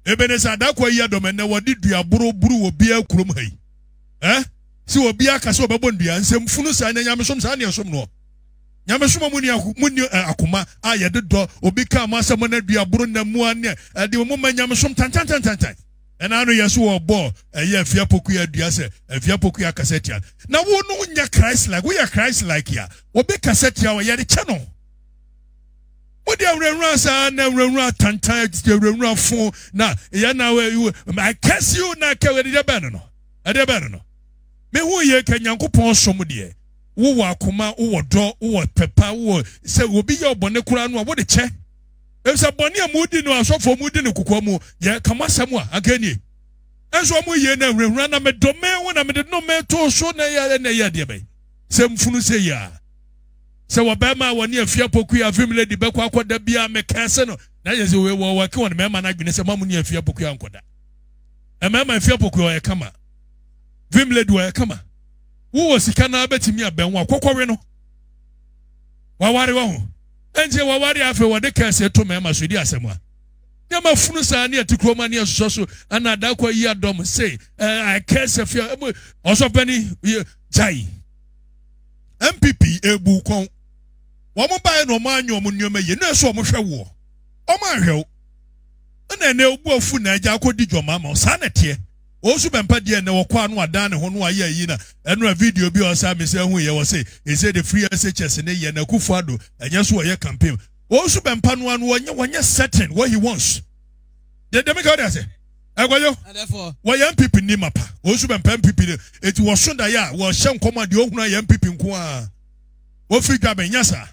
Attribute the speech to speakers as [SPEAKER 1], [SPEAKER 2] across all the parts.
[SPEAKER 1] Ebenezer Darko ayi adɔm ɛnɛ wɔde dua boro buru wɔ biara kurom ha yi. Ɛ sɛ obiara ka sɛ ɔbɛbɔ ndua nsɛm funu saa ɛnɛ nyamesom saa ne ɛsom noɔ. Nyamesom a mu ni mu ni akoma a yɛde dɔ obi ka mo asɛm na dua boro na mu anɛ ɛde mo ma nyamesom tantantantantan. Ɛna ano yɛ so wɔ bɔ ɛyɛ afia pokuya dua sɛ afia pokuya kasa tia. Na wo no nyɛ Christ like woyɛ Christ like a obi kasa tia wɔ yɛde kyɛ no. wode awurawura saa na awurawura atantan atete awurawura fo na yɛ na I curse you na kɛ ɛde deɛ bɛn no ɛde bɛn no mehu yɛ kɛ nyankopɔn som deɛ wowɔ akoma wowɔ dɔ wowɔ pɛpa wowɔ sɛ obi yɛ ɔbɔne koraa no a wode kyɛ efisɛ bɔne a mudi no asɔfoɔ mudi no kokoa mu yɛ kama asɛm a akɛnie ɛnso ɔmo yie na awurawura na medome wo na mede nome to so na yɛ na yɛ deɛ bɛn sɛ mfunu sɛ yɛ a sɛ wɔ bɛrima a wɔne afie apokui avim lady bɛkɔ akɔda bi a mekɛɛ se no na yɛ sɛ wɔ wɔke wɔn mmarima no adwene sɛ ma mo ne afie apokui ankɔda mmarima afie apokui ɔyɛ kama vim lady ɔyɛ kama wowɔ sika no abɛtumi abɛn wo akɔkɔwe no waware wɔ ho ɛnkyɛ waware afei wɔde kɛse to mmarima so di asɛm a nneɛma funu saa ne ɛte kurom ne ɛsosɔ so ɛna adakɔ yi adɔm se ɛɛ kɛse fia ɔsɔpɛni gyae npp ebu kɔn wɔn baeɛ na wɔn anyɛ wɔn nneɛma yie na ɛsɛ wɔn hwɛ woɔ wɔn anhwɛ wo ɛna ɛnɛ obu afu na agya akɔdi dwɔma ama saa na ɛteɛ wɔsu bɛmpa deɛ ɛnɛ wɔkɔ ano adan ne ho no ayɛ ayi na ɛnora video bi a ɔsa me sɛ ɛho yɛ wɔ se ɛsɛ de free SHS ne yɛ na akufo ado ɛnyɛ so wɔyɛ campaign wɔsu bɛmpa no ano wɔnyɛ wɔnyɛ certain what he wants dɛdɛmika wɔde ase ɛwɔ yo wɔyɛ npp ni mapa wɔn nso bɛmpɛ npp de eti wɔso daeɛ a wɔhyɛ nkɔm a deɛ ohun ayɛ npp nko a wɔfiri dwa bɛn nyasa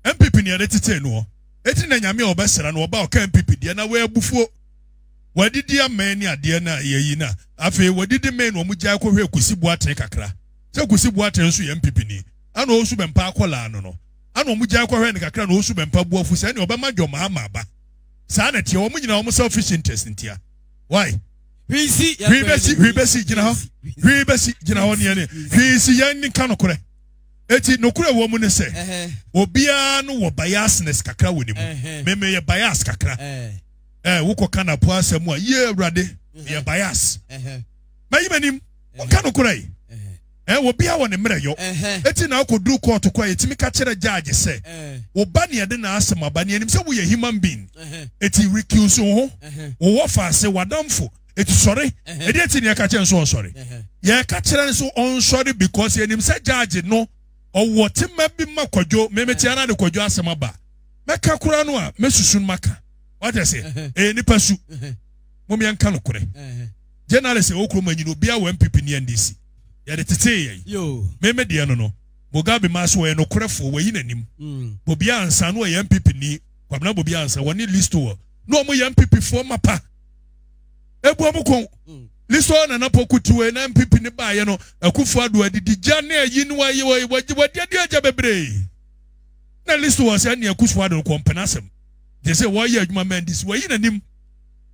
[SPEAKER 1] npp ni yɛde tete noɔ eti na nyame a ɔbɛsra no ɔba ɔka npp deɛ na wɔyɛ bufuo wɔadidi amɛn ne adeɛ na yɛyi na afei wɔadidi mɛn na wɔn gyae kɔhwɛ kusi boatene kakra sɛ kusi boatene nso yɛ npp ni ana ɔsu bɛmpa akɔlaa no no ana wɔn gyae kɔhwɛ no kakra na ɔsu bɛmpa buafu sɛ ɛne ɔbɛma dwɔmaa ma aba saa na ɛteɛ wɔn nyinaa wɔn selfish interest ntia why hwii si hwii bɛsi hwii bɛsi gyina hɔ hwii bɛsi gyina hɔ neɛ ne hwii si yɛn nka nokorɛ eti nokorɛ wɔ mu ne sɛ obiara no wɔ biasness kakra wɔ ne mu mmemme yɛ bias kakra ɛɛ wokɔ ka napo asɛm a yie awurade yɛ bias mɛyi m'anim nka nokorɛ yi. Eh, obiara wɔ ne mmerɛyɔ. Eti na akɔduru kɔɔto kɔ a yɛtumi ka kyerɛ judge sɛ, wo ba nea ɛde n'asɛm aba no, yɛnim sɛ woyɛ human being, eti recuse wo ho, wo wɔfaase, w'adamfo, eti sɔre. Ɛdeɛn nti na yɛka kyerɛ no sɛ ɔnsɔre? Yɛka kyerɛ no sɛ ɔnsɔre because yɛnim sɛ judge no ɔwɔ tema bi ma Kwadwo. Me mete ara de Kwadwo asɛm aba. Mɛka koraa no a, mɛsusu no maka. Wate aseɛ? Ɛyɛ nipa su. Mom yɛnka nokorɛ. Journalist ɛwɔ kurom anyi no obiara wɔ NPP ne NDC. Yɛde tetee yɛn. Me me deɛ no no. Mugabe maa so ɔyɛ nokorɛfoɔ wayi n'anim. Hmm. Bobi Ansa no ɔyɛ NPP ni. Kwabena Bobi Ansa wɔne Listoɔ na wɔn yɛ NPP foɔ mapa. Ebu wɔn kɔn. Hmm. Listoɔ nana poku tiwe na NPP ne baayɛ no akufo ado adidi gya ne ayi ne wayi wayi wadi adi agya bebree. Na Listoɔ sɛ ne akufo ado kɔmpɛn asɛm. Gyese wɔyɛ adwuma mɛndisi wayi n'anim.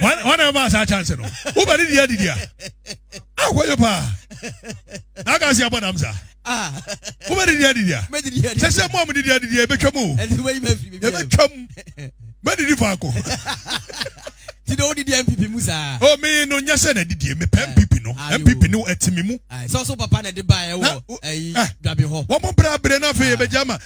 [SPEAKER 1] wọn na ɛma saa chance no wobɛ ne deɛ didi a akɔyɛ paa na aka se abɔ nam saa wobɛ ne deɛ didi a sɛ sɛ mɔ mo de deɛ didi a ɛbɛtwa mu ɛbɛtwa mu bɛdidi faako ti de wodidi mpp mu saa o me no nyɛ sɛ na didie mepɛ mpp no mpp no ɛtimi mu sɛ so papa na ɛde baeɛ wɔ dwabe hɔ wɔmo brɛ aberɛ no afei yɛbɛgya ma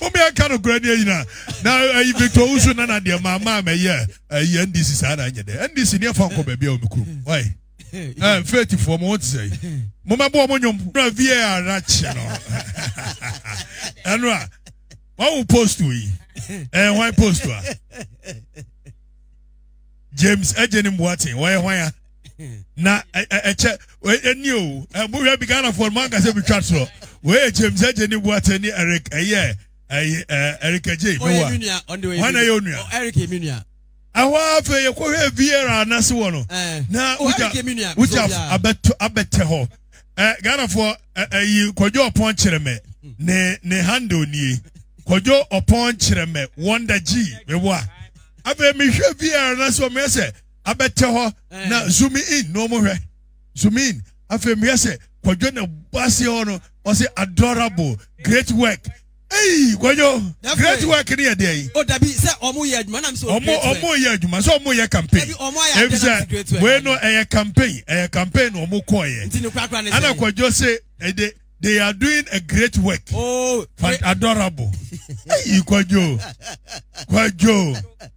[SPEAKER 1] mo mi ɛka no kura ni ɛyina na ɛyi victor wusu na na deɛ maa maa mɛ yɛ ɛyɛ ndc saa na ɛnyɛ dɛ ndc ni ɛfa nkɔ baabi a wɔn kuro mu wae ɛɛ faith fo wɔn ti sɛ yi mo mɛ bɔ wɔn nyom na var na kyɛ no ɛnu a wɔn awo post yi ɛɛ wɔn post a james ɛgye ne mbuaten wɔyɛ wɔn ya. na ɛkyɛ ɛni o ɛmu hwɛ bi ghana fɔ mu ankasa bi twa soɔ wɔyɛ james ɛgye ne buate ne eric ɛyɛ ɛyɛ eric ɛgye mi wa wɔn na yɛ onua eric mi nua ɛhɔ afei yɛ kɔhwɛ viera anase wɔ no na wogya wogya abɛtɔ abɛtɛ hɔ ɛ ghana fɔ ɛyi kɔjɔ ɔpɔn kyerɛ mɛ ne ne handle nie kɔjɔ ɔpɔn kyerɛ mɛ wɔnda gyi mɛ wa afei mi hwɛ viera anase wɔ mɛ sɛ. abɛtɛ hɔ na eh. zoom in na ɔmo hwɛ zoom in afei mehwɛ sɛ kwadwo na bɔ aseɛ hɔ no ɔsɛ adorable great work eyi kwadwo great work ni yɛ deɛ yi. o dabi sɛ ɔmo
[SPEAKER 2] yɛ adwuma nam sɛ o great work. ɔmo ɔmo yɛ adwuma
[SPEAKER 1] sɛ ɔmo yɛ campaign. ebi sɛ wei no ɛyɛ campaign ɛyɛ campaign na ɔmo kɔɔ yɛ. nti ne kurakura ne sɛ. ɛna kwadwo se ɛde. They are doing a great work. Oh, adorable. hey, Kwajo. Kwajo.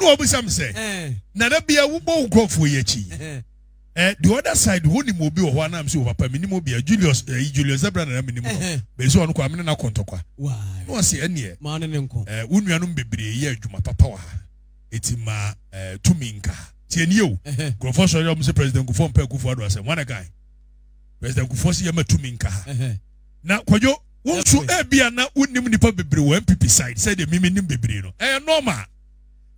[SPEAKER 1] na wɔbisa me sɛ na da bia wobɔ wo nkurɔfoɔ yi akyi eh, the other side wonim obi wɔ hɔ anam sɛ wɔ papa menim obi a julius eh, julius zebra nana menim no bɛsi ɔno kɔ amene no akɔntɔkwa na ɔse ɛneɛ eh, wo
[SPEAKER 2] nuanom bebree
[SPEAKER 1] yɛ adwuma papa wɔ ha ɛti ma eh, tumi nka ha tiɛ nie o nkurɔfoɔ sɔre ɔm sɛ president kufoɔ mpɛ kufoɔ ado asɛm wane kan president kufoɔ sɛ yɛma tumi nka ha na kwadwo wo nso ebia na wonim nipa bebree wɔ npp side sɛ deɛ mimi nim bebree no ɛyɛ normal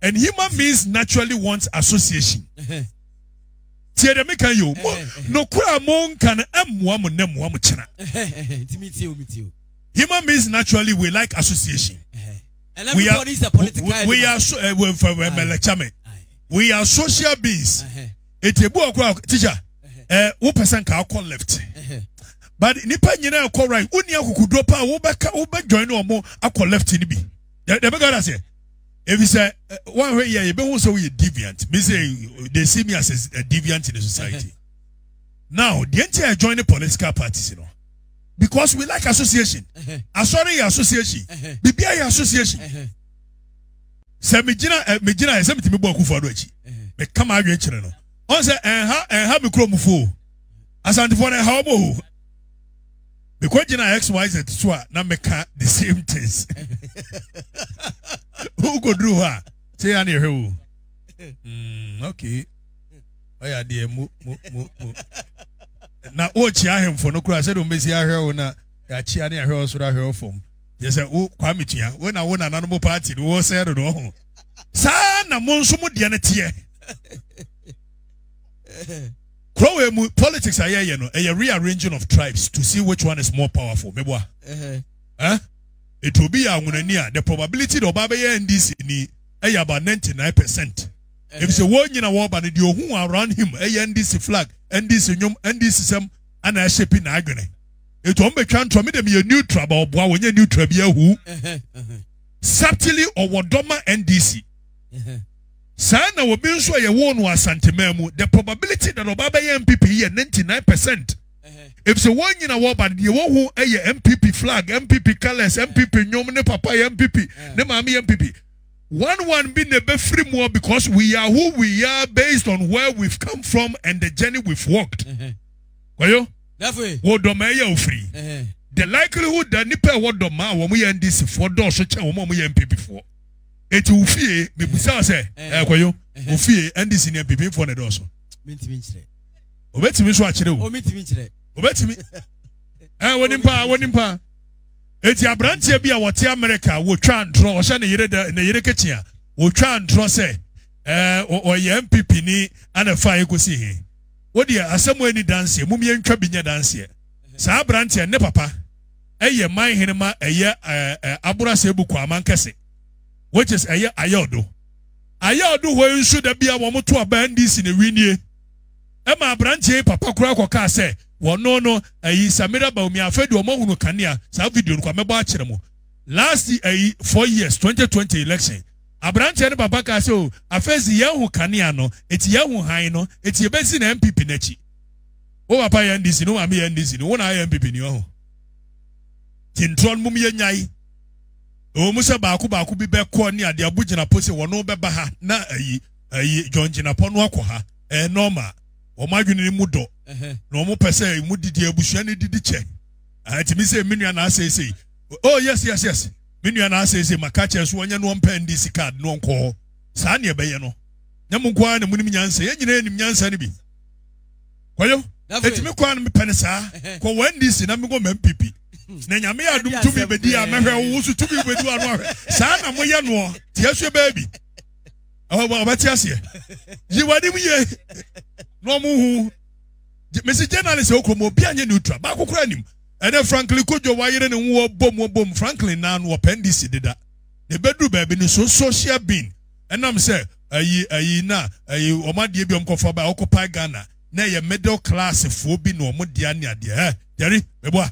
[SPEAKER 1] and human beings naturally want association tie dɛ meka yi o mo nokora a mo nka no ɛmmoa mo nɛ mmoa mo kyena human beings naturally we like association we
[SPEAKER 2] are we are so
[SPEAKER 1] ɛwɛnfɛwɛmɛlɛkyɛmɛ we are social beings. Uh-huh. eti ebu ɔkora ɔkora teacher ɛɛ wopɛ sɛ nka akɔ left but nipa nyinaa ɛkɔ right wonni akokoduro paa wobɛka wobɛjoin ne ɔmo akɔ left ni bi dɛbɛ gara sɛ ebi sɛ wɔahwɛ yɛ ebe ho sɛ woyɛ deviant bi sɛ they see me as a, a deviant in the society now deɛ nti a join the political parties you know because we like association asɔre yɛ association biribi ayɛ association. sɛ megyina eh, megyina ɛsɛ metumi bɔ akufo ado akyi meka ma adwene kyerɛ no ɔn sɛ ɛnha ɛnha me kurom fo asantefoɔ no ɛha wɔn o mekɔ gyina xyz so a na meka the same things wokɔduru hɔ a sɛ yɛ ne ɛhwɛ wo mm, okay ɔyɛ adeɛ mo mo mo mo na wokyia ahemfo no koraa sɛdeɛ wɔbɛsi ahwɛ wo na yɛakyia ne ahwɛ wo soro ahwɛ wo fam Yɛ sɛ wo Kwame Tua, wo na wo nana no mo party no wɔ sɛ dodo ho. Saa na mo nso mo deɛ no teɛ. Kurɔwɛ mu politics a yɛyɛ no ɛyɛ rearranging of tribes to see which one is more powerful. Meboa. Eh? Etu obi yɛ anwonani a the probability that ɔba bɛyɛ NDC ni ɛyɛ about 99 percent. Efisɛ wɔn nyina wɔba no deɛ ohun around him ɛyɛ NDC flag, NDC nnwom, NDC sɛm ana ɛhyɛ pi na adwene. etu ɔmo betwa ntorɔ me de me yɛ neutral ba ɔboa wɔnyɛ neutral bi ahu subtly ɔwɔ dɔ ma ndc saa na obi nso a yɛwoo no asanteman mu the probability that ɔba bɛyɛ npp yɛ ninety nine percent efisɛ wɔn nyina wɔba no deɛ wɔhu yɛ npp flag npp colours npp nnwom ne papa yɛ npp ne maame yɛ npp one one bi na ebɛfiri mu because we are who we are based on where we've come from and the journey we've walked. Mm -hmm. Kwayo, wo dɔmaa yi a ofiri. The likelihood that nipa ɛwɔ dɔmaa a wɔn yɛ NDC foɔ dɔɔso kyɛn wɔn a wɔn yɛ NPP foɔ. Eti wo fie, mibusa wo sɛ, ɛɛ Kwayo, wo fie NDC ne NPP foɔ na ɛdɔɔso. Mintimi nkyerɛ. Obetumi nso akyerɛ o. Omitimi nkyerɛ. Obetumi. Ɛɛ wɔnim paa, wɔnim paa. Eti aberanteɛ bi a wɔte America wɔtwa ntorɔ ɔhyɛ ne yere dɛ ne yere kekyia wɔtwa ntorɔ sɛ ɛɛ ɔyɛ NPP ni ana fa ekosi he. Wo deɛ asɛm a ɛni danseɛ mom yɛntwa bi nyɛ danseɛ. Saa abranteɛ ne papa ɛyɛ man hene ma ɛyɛ ɛɛ aborasɛ bu kwaman kɛse which is ɛyɛ ayɛɔdo. Ayɛɔdo hɔ nso da bia wɔn to aba NDC na ɛwi nie. Ɛma abranteɛ yi papa koraa kɔ kaa sɛ wɔno no ɛyi Samira Baumi afei deɛ wɔn ahunu kanea saa video no kwa mɛbɔ akyerɛ mo last ɛyi four years 2020 election Aberanteɛ no papa kaa sɛ, O, afei si yɛahu kanea no, enti yɛahu hann no, enti yɛbɛsi no NPP no akyi. Wo papa yɛ NDC no, wo maame yɛ NDC no, wo na ayɛ NPP ni ɔho. Nti ntorɔ no mom yɛnyae. Ɛwɔ mu sɛ baako baako bi bɛkɔ ne ade abu gyinapɔ sɛ wɔn bɛba ha na ayi ayi John gyinapɔ no akɔ ha. Ɛyɛ normal. Wɔn adwene no mu dɔ. Na wɔn pɛ sɛ mu didi abusua no didi kyɛ. Ɛtumi sɛ me nua na asɛesɛe. Oh yes yes yes. me nua na asɛ ese maka kyerɛ so ɔnyɛ no ɔmpɛ ndi si card no ɔnkɔ hɔ saa ne ɛbɛyɛ no nyɛ mo nkoa na mo nim nyansa yɛ nyina yɛ nim nyansa no bi kɔyɔ eti me kɔa no mepɛ ne saa kɔ wɔ ndc na me kɔ mɛ mpipi na nyame yɛ adum tumi bedi a mɛhwɛ wo wo so tumi bedi wa no ahwɛ saa na mo yɛ noɔ tia so baabi ɔbɛte aseɛ yi wanim yie na ɔmo hu mesi journalist okɔ mu obi anyɛ neutral baako kora nim Ɛnna Franklin Cudjoe wayere ne ho wɔbom wɔbom. Franklin naa no wɔpɛ ndc deda. Na ebeduru baabi no so social being ɛnam sɛ ayi ayi na ayi wɔn adeɛ bi wɔn kɔfa ba ɔkɔpae Ghana na ɛyɛ middle class foɔ bi na wɔn dea ne adeɛ ɛ gyɛri meboa.